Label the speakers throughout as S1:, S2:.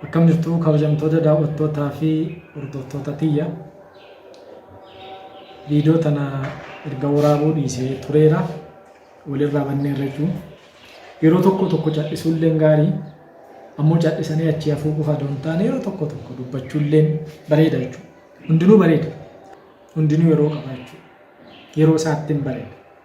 S1: Akkam jirtu kabajamtoota daawwattootaa fi hordoftoota tiyya. Viidiyoo tana erga waraabuu dhiisee tureera. Walirraa bannee irra jiru. Yeroo tokko tokko cal'isuulleen gaarii ammoo cal'isanii achii hafuu qofa osoo hin taane yeroo tokko tokko dubbachuulleen bareeda jechuudha. Hundinuu bareeda. Hundinuu yeroo qaba jechuudha. Yeroo isaatti hin bareeda.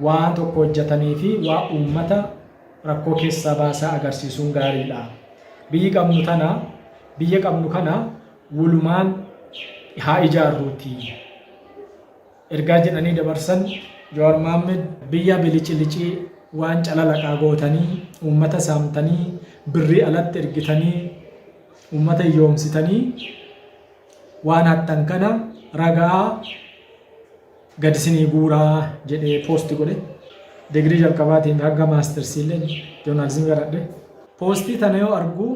S1: Waan tokko hojjatanii fi waan uummata rakkoo keessaa baasaa agarsiisuun gaariidha. Biyyi qabnu tana, biyya qabnu kana wolumaan haa ijaarruutii. Ergaa jedhanii dabarsan Jawaar Mohammed biyya bilicilici waan calalaqaa gootanii, uummata saamtanii, birrii alatti ergitanii, uummata hiyyoomsitanii waan hattan kana ragaa, gad isinii guuraa jedhee poosti godhe degirii jalqabaatiin hanga maastarsiillee joornaalizimii baradhe. Poostii tana yoo argu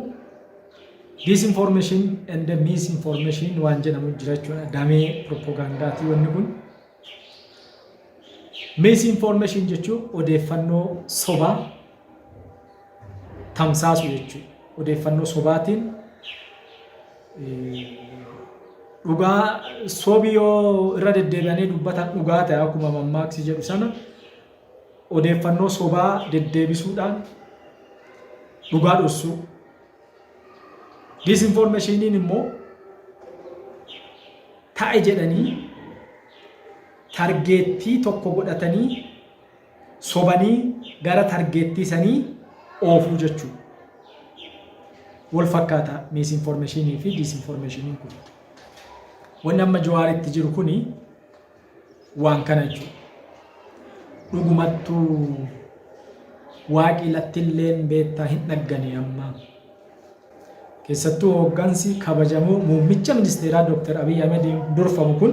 S1: disinformation and misinformation waan jedhamu jira jechuudha damee propagandaatii wanni kun. Misinformation jechuun odeeffannoo sobaa tamsaasu jechuudha. Odeeffannoo sobaatiin dhugaa sobi yoo irra deddeebi'anii dubbatan dhugaa ta'e akkuma mammaaksi jedhu sana odeeffannoo sobaa deddeebisuudhaan dhugaa dhossuu. Disinfoormeeshiniin immoo ta'e jedhanii targeettii tokko godhatanii sobanii gara targeettii sanii oofuu jechuu wol fakkaata miisinformeshiinii fi diisinformeshiiniin kun wanni amma jawaar itti jiru kuni waan kana jechuu dhugumattu waaqii lattilleen beettaa hin dhaggane amma Keessattuu hooggansi kabajamoo muummicha ministeeraa Dooktar Abiy Ahimediin durfamu kun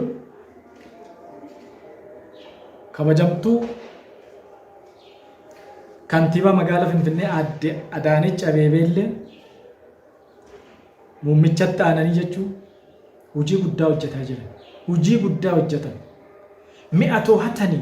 S1: kabajamtuu kantiibaa magaalaa Finfinnee aadde Adaanech Abeebee illee muummichatti aananii jechuun hojii guddaa hojjetaa jiran. Hojii guddaa hojjetan. Mi'a toohatanii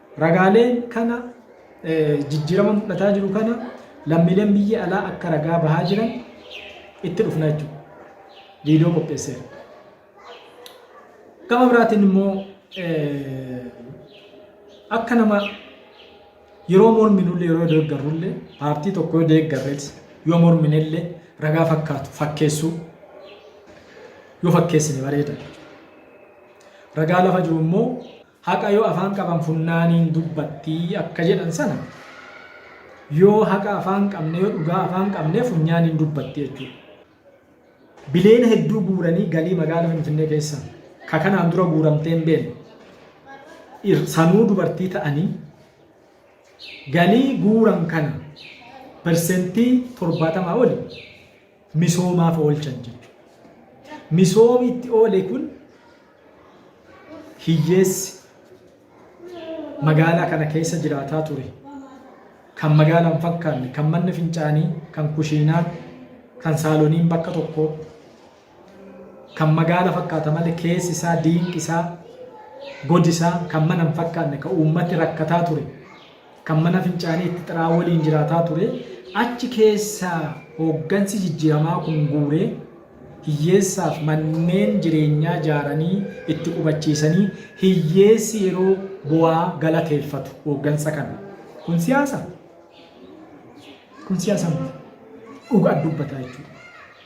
S1: Ragaaleen kana jijjiirama mul'ataa jiru kana lammiileen biyya alaa akka ragaa bahaa jiran itti dhufna jechuudha. Viidiyoo qopheesseera. Gama biraatiin immoo akka nama yeroo morminullee yeroo deeggarrullee paartii tokko yoo deeggarrees yoo morminellee ragaa fakkaatu fakkeessuu yoo fakkeessine bareeda. Ragaa lafa jiru immoo Haqa yoo afaan qaban funnaaniin dubbatti akka jedhan sana yoo haqa afaan qabne yoo dhugaa afaan qabne funyaaniin dubbatti jechuudha. Bileena hedduu guuranii galii magaala Finfinnee keessa ka kanaan dura guuramtee hin beekne. Ir- Sanuu dubartii ta'anii galii guuran kana persentii torbaatamaa oli misoomaaf oolchan jechuudha. Misoomi itti oole kun hiyyeessi magaalaa kana keessa jiraataa ture kan magaalaa hin fakkaanne kan manni fincaanii kan kushiinaa kan saaloniin bakka tokko kan magaala fakkaata malee keessi isaa diinqi isaa godi isaa kan mana hin fakkaanne kan uummati rakkataa ture kan mana fincaanii itti xiraa waliin jiraataa ture achi keessaa hooggansi jijjiiramaa kun guuree hiyyeessaaf manneen jireenyaa jaaranii itti qubachiisanii hiyyeessi yeroo bu'aa galateeffatu hooggansa kana. Kun siyaasa? Kun siyaasa miti. Dhugaa dubbataa jechuudha.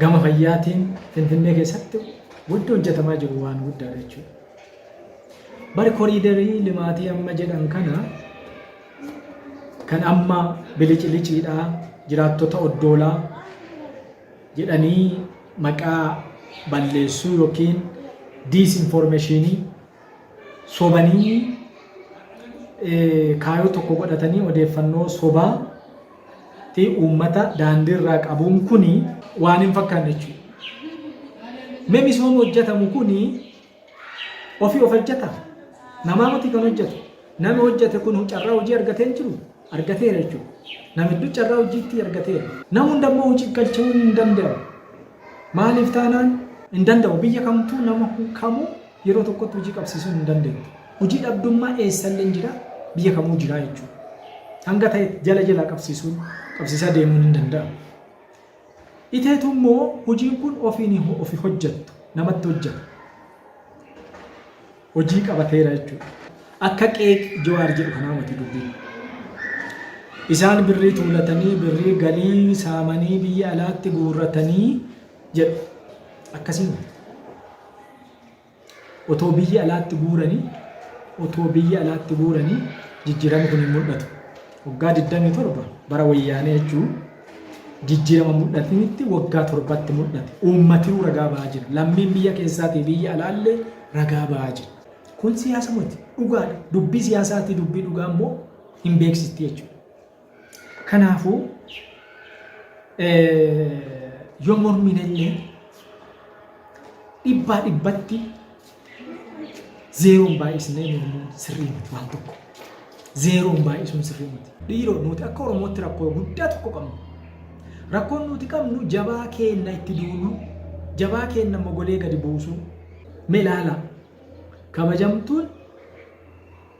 S1: gama fayyaatiin Finfinnee keessatti wanti hojjetamaa jiru waan guddaadha jechuudha. Bari koriidarii limaatii amma jedhan kana kan amma biliciliciidha jiraattota oddoolaa jedhanii maqaa balleessuu yookiin diisinfoormeeshinii sobanii kaayoo tokko godhatanii odeeffannoo sobaa ti uummata daandii irraa qabuun kuni waan hin fakkaanne jechuudha. Mee misooma hojjetamu kuni ofii of hojjeta namaa miti kan hojjetu nami hojjete kun carraa hojii argatee hin jiru argateera jechuudha. Nama hedduu carraa hojiitti argateera. Nama hunda immoo hojii galchuu hin danda'u. Maaliif taanaan hin danda'u biyya kamtuu nama kamuu Yeroo tokkotti hojii qabsiisuu hin dandeettu. Hojii dhabdummaa eessalleen jira, biyya kamuu jira jechuudha. Hanga ta'e jala jalaa qabsiisuun qabsiisaa deemuun hin danda'amu. Iteetu immoo hojiin kun ofiin ofi hojjettu namatti hojjeta. Hojii qabateera jechuudha. Akka qeeq Jawaar jedhu kanaa mati dubbiin. Isaan birrii tuulatanii birrii galii saamanii biyya alaatti guurratanii jedhu. Akkasii miti. Otoo biyya alaatti guuranii otoo biyya alaatti guuranii jijjiirama kun hin mul'atu. Waggaa 27 bara wayyaanee jechuun jijjiirama mul'atinitti waggaa torbatti mul'ate. Uummatii ragaa ba'aa jira. Lammiin biyya keessaatii biyya alaallee ragaa ba'aa jira. Kun siyaasa miti. Dhugaadha. Dubbii siyaasaatii dubbii dhugaa immoo hin beeksisti jechuudha. Kanaafuu yoo mormiin illee dhibbaa dhibbatti zeeroon baay'isnee mormuun sirrii miti waan tokko. Zeeroon baay'isuun sirrii miti. Dhiiroo nuti akka Oromootti rakkoo guddaa tokko qabnu. Rakkoon nuti qabnu jabaa keenna itti duulu, jabaa keenna mogolee gadi buusu. Mee ilaalaa kabajamtuun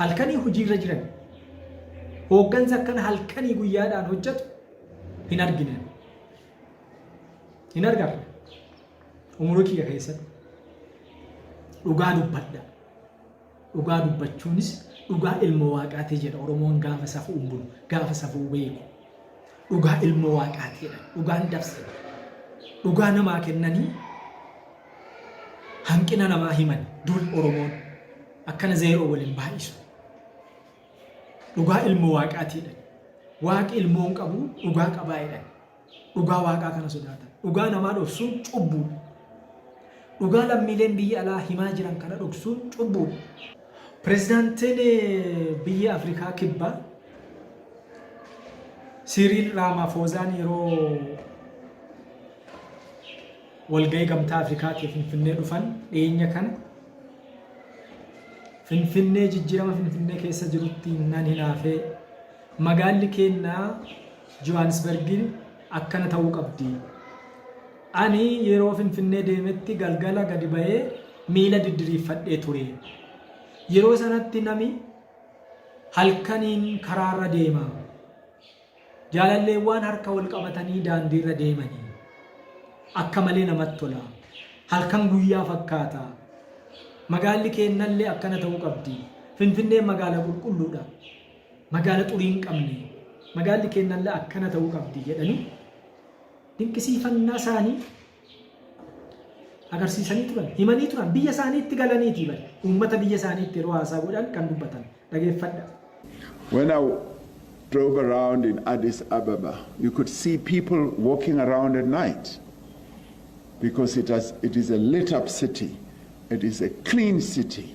S1: Halkanii hojiirra jiran. Hooggansa akkana halkanii guyyaadhaan hojjetu hin argine. Hin argarre. Umurii kiyya keessatti. Dhugaa dubbadha. Dhugaa dubbachuunis dhugaa ilma waaqaati jedha Oromoon gaafa safuu hin bulu, gaafa safuu beeku. dhugaa ilma waaqaati jedhan dhugaan dabse dhugaa namaa kennanii hanqina namaa himan duul oromoon akkana zeeroo waliin baay'isu dhugaa ilma waaqaati jedhan waaqi ilmoon qabu dhugaa qabaa jedhan dhugaa waaqaa kana sodaatan dhugaa namaa dhoksuun cubbuudha dhugaa lammiileen biyya alaa himaa jiran kana dhoksuun cubbuudha Pirezidaantiin biyya Afrikaa Kibbaa Siiriil Raamaafoozaan yeroo walgahii gamtaa Afrikaatiif Finfinnee dhufan dhiyeenya kana Finfinnee jijjiirama Finfinnee keessa jirutti nan hinaafee magaalli keennaa Johaanisbergiin akkana ta'uu qabdi. Ani yeroo Finfinnee deemetti galgala gadi ba'ee miila diddiriiffadhee ture. Yeroo sanatti nami halkaniin karaarra deema. Jaalalleewwaan harka wal qabatanii daandiirra deemanii. Akka malee namatti tola. Halkan guyyaa fakkaata. Magaalli keennallee akkana ta'uu qabdi. Finfinneen magaala qulqulluudha. Magaala xurii hin qabne. Magaalli keennallee akkana ta'uu qabdi jedhanii dinqisiifannaa isaanii agarsiisanii turan, himanii turan, biyya isaaniitti galaniitii bari. Uummata biyya isaaniitti yeroo haasaa godhan kan dubbatan. Dhageeffadha. When
S2: I drove around in Addis Ababa, you could see people walking around at night because it, has, it is a lit up city, it is a clean city.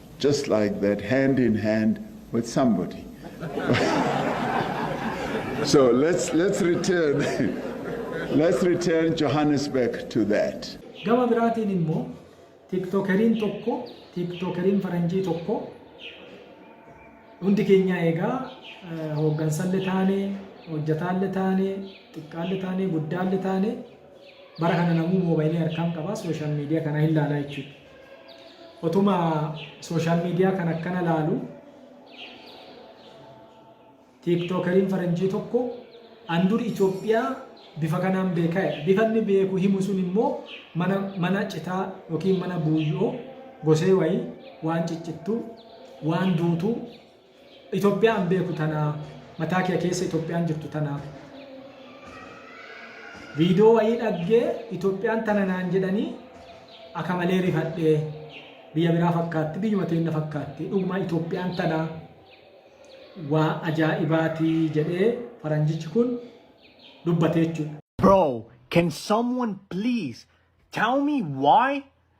S2: just like that hand in hand with somebody so let's let's return let's return Johannesburg to that. Gama biraatiin
S1: immoo tiktokeriin tokko tiktokeriin faranjii tokko hundi keenyaa egaa eh, hooggansalle taane hojjetaalle taane xiqqaalle taane guddaalle taane bara kana namuu moobaayilii harkaan qaba sooshaal miidiyaa kana hin laalaa jechuudha. Otuma social media kan akkana laalu tiiktokeriin faranjii tokko an dur Itoophiyaa bifa kanaan beekaa jedha. Bifa inni beeku himu sun immoo mana mana citaa yookiin mana buuyyoo gosee wayii waan ciccittuu waan duutuu Itoophiyaa an beeku tana mataa kee keessa Itoophiyaan jirtu tana viidiyoo wayii dhaggee Itoophiyaan tana naan jedhanii akka malee rifadhee biyya biraa fakkaatti biyyuma teenna fakkaatti dhuguma Itoophiyaan tana waa ajaa'ibaati jedhee faranjichi kun dubbate jechuudha. Bro, can
S3: someone please tell me why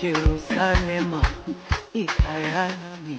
S4: Jerusalema ikayami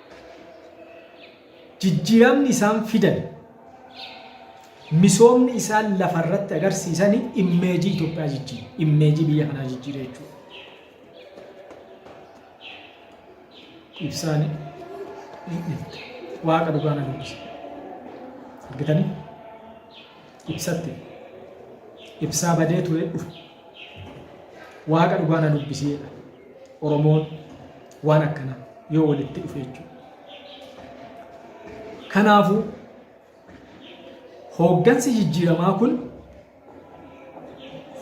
S1: Jijjiiramni isaan fidan, misoomni isaan lafa irratti agarsiisan immeejii Itoophiyaa jijjiire, immeejii biyya kanaa jijjiire jechuudha. Ibsaan waaqa dhugaa na dubbisa. Argitanii? Ibsatti. Ibsaa badee ture dhufu. Waaqa dhugaa na dubbisiidha. Oromoon waan akkanaa yoo walitti dhufe jechuudha. Kanaafuu hooggansi jijjiiramaa kun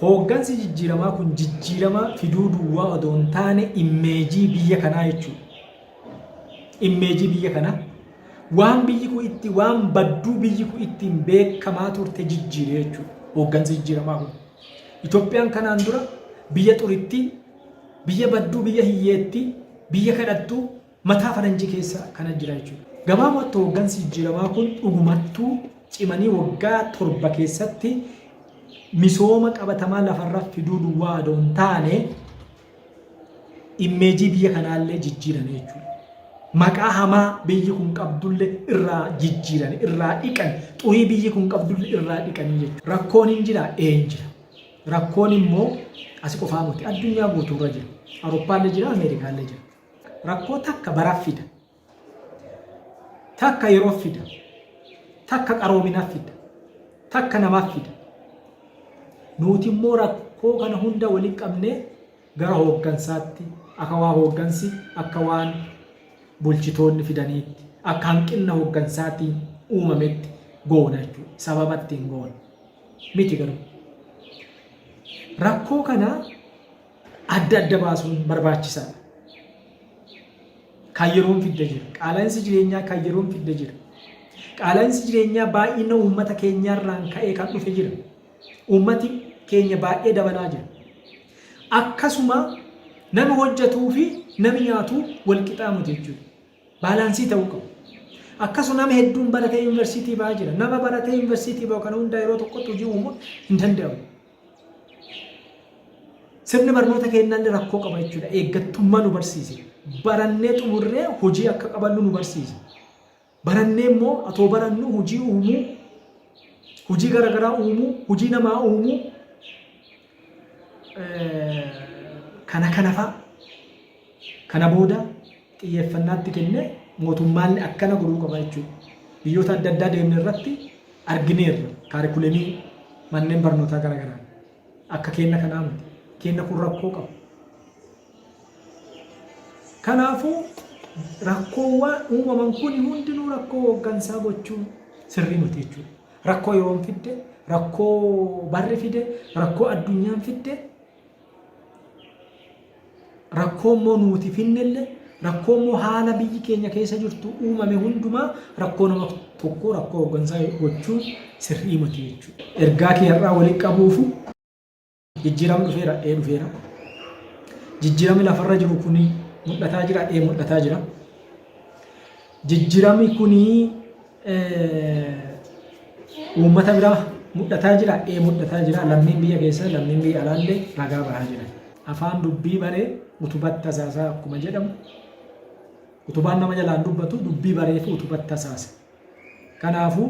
S1: hooggansi jijjiiramaa kun jijjiiramaa fiduu duwwaa odoo hin taane immeejii biyya kanaa jechuudha. Immeejii biyya kanaa waan biyyi kun itti waan badduu biyyi kun ittiin beekamaa turte jijjiire jechuudha. Hooggansi jijjiiramaa kun. Itoophiyaan kanaan dura biyya xuritti Biyya badduu biyya hiyyeettii biyya kadhattuu mataa faranjii keessa kana jira jechuudha. Gabaabumatti hooggansi jijjiiramaa kun dhugumattuu cimanii waggaa 7 keessatti misooma qabatamaa lafarra fiduu duwwaa adoo hin taane immeejii biyya kanaallee jijjiirame jechuudha. Maqaa hamaa biyyi kun qabdullee irraa jijjiirame, irraa dhiqan, xurii biyyi kun qabdullee irraa dhiqanii jechuudha. Rakkoon hin jira, ee hin jira. Rakkoon immoo asi qofaa miti. Addunyaa guutuurra jira. Awurooppaallee jira, Ameerikaallee jira. Rakkoo takka baraaf fida. Takka yeroof fida. Takka qaroominaaf fida. Takka namaaf fida. Nuuti immoo rakkoo kana hunda waliin qabnee gara hooggansaatti, aka waan hooggansi, akka waan bulchitoonni fidaniitti, akka hanqinna hooggansaatiin uumametti goona jechuudha. Sababa ittiin goonu miti garuu. Rakkoo kana adda adda baasuun barbaachisaadha. Kan yeroon fidde jira. Qaala'insi jireenyaa kan yeroon fidde jira. Qaala'insi jireenyaa baay'ina uummata keenyaarraan ka'ee kan dhufe jira. Uummati keenya baay'ee dabalaa jira. Akkasuma nami hojjatuu fi nami nyaatu wal qixaa miti jechuudha. Baalaansii ta'uu qabu. Akkasuma nama hedduun baratee yuunivarsiitii ba'aa jira. Nama baratee yuunivarsiitii ba'u kana hundaa yeroo tokkotti hojii uumuun hin danda'amu. Sirni barnoota keenyaallee rakkoo qaba jechuudha. Eeggattummaa nu barsiise. Barannee xumurree hojii akka qabannu nu barsiise. Barannee immoo atoo barannuu hojii uumuu, hojii gara garaa uumuu, hojii namaa uumuu eh, kana kanafaa kana booda xiyyeeffannaatti kenne mootummaalli akkana godhuu qaba jechuudha. Biyyoota adda addaa deemne irratti argineerra kaarikulemii manneen barnootaa gara garaa akka keenna kanaa miti. Keenna kun rakkoo qaba. Kanaafuu, rakkoowwaan uumaman kuni hundinuu rakkoo hooggansaa gochuun sirrii miti jechuudha. Rakkoo yeroon fidde, rakkoo barri fide, rakkoo addunyaan fidde, rakkoo immoo nuuti finnelle, rakkoo immoo haala biyyi keenya keessa jirtu uumame hundumaa rakkoo nama tokkoo rakkoo hooggansaa gochuun sirrii miti jechuudha. Ergaa kee har'aa walitti qabuufu Jijjiiram dhufeera ee dhufeera. Jijjiirami lafarra jiru kun mul'ataa jira ee mul'ataa jira. Jijjiirami kun uummata biraa mul'ataa jira ee mul'ataa jira. Lammiin biyya keessa lammiin biyya alaallee ragaa bahaa jira. Afaan dubbii baree utubatti tasaasaa akkuma jedhamu utubaan nama jalaan dubbatu dubbii bareetu utubatti tasaasa. Kanaafuu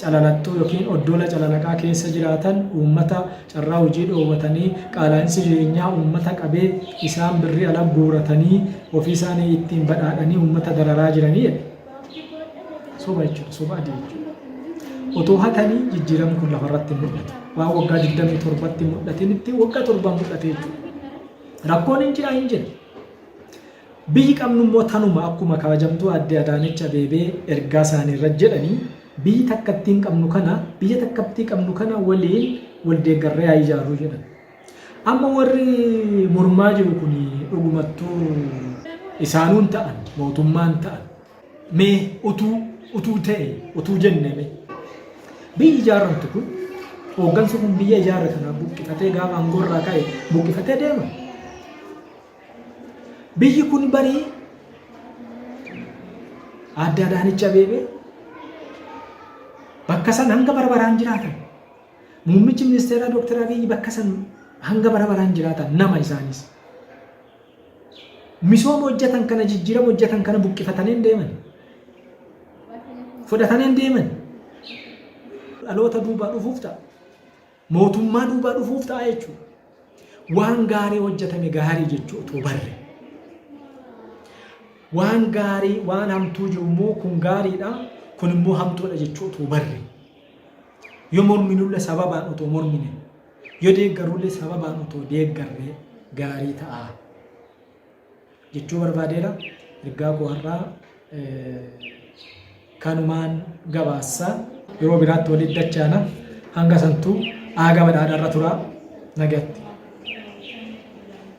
S1: Calalattuu ykn oddoola calalaqaa keessa jiraatan uummata carraa hojii dhoowwatanii qaalaa'insi jireenyaa uummata qabee isaan birrii ala guuratanii ofii isaanii ittiin badhaadhanii uummata dararaa jiranii jedhe. Soba jechuudha. Soba adii jechuudha. Otoo hatanii jijjiiramni kun lafarratti hin mul'atu. Waan waggaa 27tti mul'atinitti waggaa torban mul'ate jechuudha. Rakkoon hin jira hin jira. Biyyi qabnu immoo tanuma akkuma kabajamtuu Aadde Adaanech Abeebee ergaa isaanii irratti jedhani biyyi takkattiin qabnu kana biyya takkabtii qabnu kana waliin wal deeggarree haa ijaarru jedhan. Amma warri mormaa jiru kun dhugumattuu isaanuu hin ta'an mootummaa hin ta'an mee utuu utuu ta'e utuu jenne mee biyyi ijaarramtu kun hooggansi kun biyya ijaarre kana buqqifatee gaafa aangoo irraa ka'e buqqifatee deema. Biyyi kun barii Aadde Adaanech Abeebee bakka san hanga bara baraan jiraatan. Muummichi ministeeraa Dooktar Abiyyi bakka san hanga bara baraan jiraatan nama isaanis. Misooma hojjetan kana jijjiirama hojjetan kana buqqifatanii hin deeman. Fudhatanii hin deeman. Dhaloota duubaa dhufuuf ta'a. Mootummaa duubaa dhufuuf ta'a jechuudha. Waan gaarii hojjetame gaarii jechuu utuu barre. Waan gaarii waan hamtuu jiru immoo kun gaariidha kun immoo hamtuudha jechuu utuu barre. Yoo morminullee sababaan otoo mormine yoo deeggarullee sababaan otoo deeggarree gaarii ta'a. jechuu barbaadeera. Ergaa koo har'aa kanumaan gabaassa. Yeroo biraatti walitti dachaana. Hanga santuu aaga badhaadharra turaa nagatti.